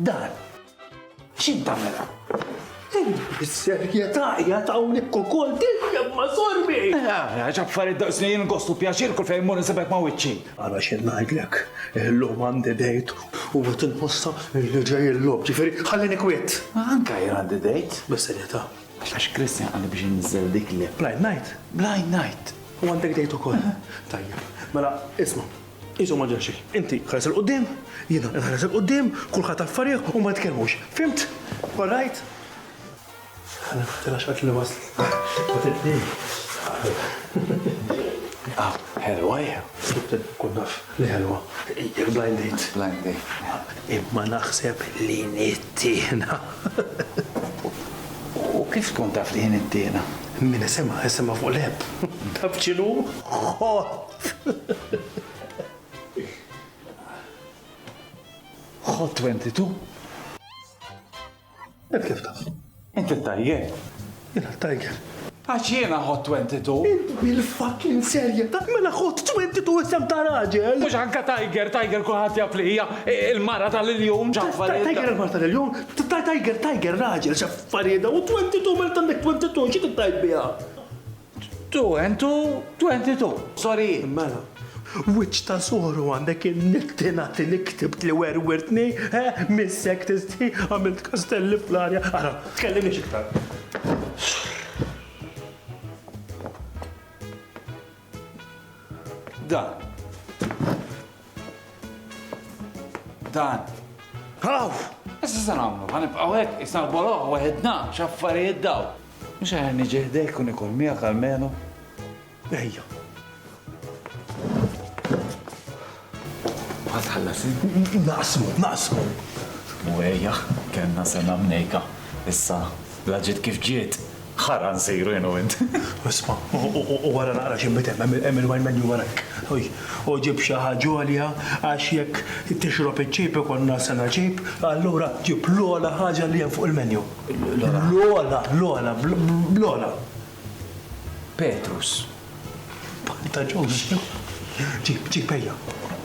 Dan. X'in tagħmel? Is-serjetà hija tawlik ukoll tiġreb ma' sorbi. Għax affarijiet daqsni jien gostu pjaċir kull fejn mur nisibek ma' wiċċi. Għala x'in ngħidlek, illum għandi dejt u qed inħossa li ġej il-lob, ġifieri ħallini kwiet. Anke jien għandi dejt, bis-serjetà. Għax għax Christian qalli biex inniżżel dik l-app. Blind Night? Blind Night! U għandek date ukoll? Aha. Tajjeb. Mela, isma', qishom ma ġara xejn. Inti ħares 'il quddiem, jiena inħares 'il quddiem, kulħadd affarih u ma nitkellmux. Fhimt? All right? Ħa niftaħ għax qaltli waslet. Ma tibni. Ah, ħelwa hija. Kun naf li ħelwa. Jekk blind date. Blind date. Imma naħseb li nit. Tiħna. U kif tkun taf li jien it-tiħna? Min isimha, isimha fuq l-Eb. Taf x'inhu? Ħott! Ħott 22? Int kif taf? Inti t-tajjeb? Jiena t-tajjeb. Għax jiena ħodt twenty two. Int bil-fucking serjetà? Mela ħodt twenty two isem ta' raġel! Mhux anke Tiger, Tiger kulħadd jaf li hija l-mara tal-iljun x'affarijiet. Tiger il-mara tal-iljun? Tiger, Tiger raġel x'affarijiet dawn? Twenty two, mela temmejt twenty two, xi trid tgħid biha? 2022. Sorry! Mela. Wiċċ ta' soru għandek in-nitti natti li ktibt li werwirtni, he? Missek tistħi, għamilt kastelli fl-arja, ara, tkellimniex iktar. Dan. Dan. Haw! Issa se nagħmlu, ħa nibqgħu hekk isna l-boloħ weħidna x'affarijiet daw. Mhux aħjar niġi ħdejk u nikol miegħek almenu. Ejja. Ma tħallas Naqsmu, naqsmu. U ejja, kellna sena mnejka. Issa, la ġiet kif ġiet, Ħarqa nsiru jien u int. Isma', u ara naqra x'inbet hemm, hemm il-wine menu wara hekk. Ħuj, u ġib xi ħaġa għolja għax jekk tixrob iċ-ċejb ikollna sena ċejb, allura ġib l-ogħla ħaġa li hemm fuq il-menu. L-ogħla? L-ogħla, bl-ogħla, bl-ogħla. Petrus. Banta ġużi. Ġib, ġib, ejja.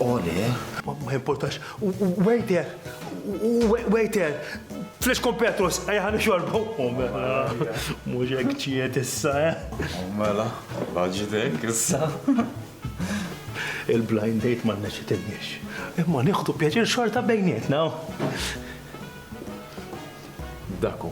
Oli. Ma importax. Waiter, waiter, flex kompetus, ejja ħan xorbu. U mela, mhux hekk ġiet issa, eh? U mela, baġitek issa. Il-blind date ma nneċitinniex. Imma nieħdu pjaċir xorta bejnietna. Daku.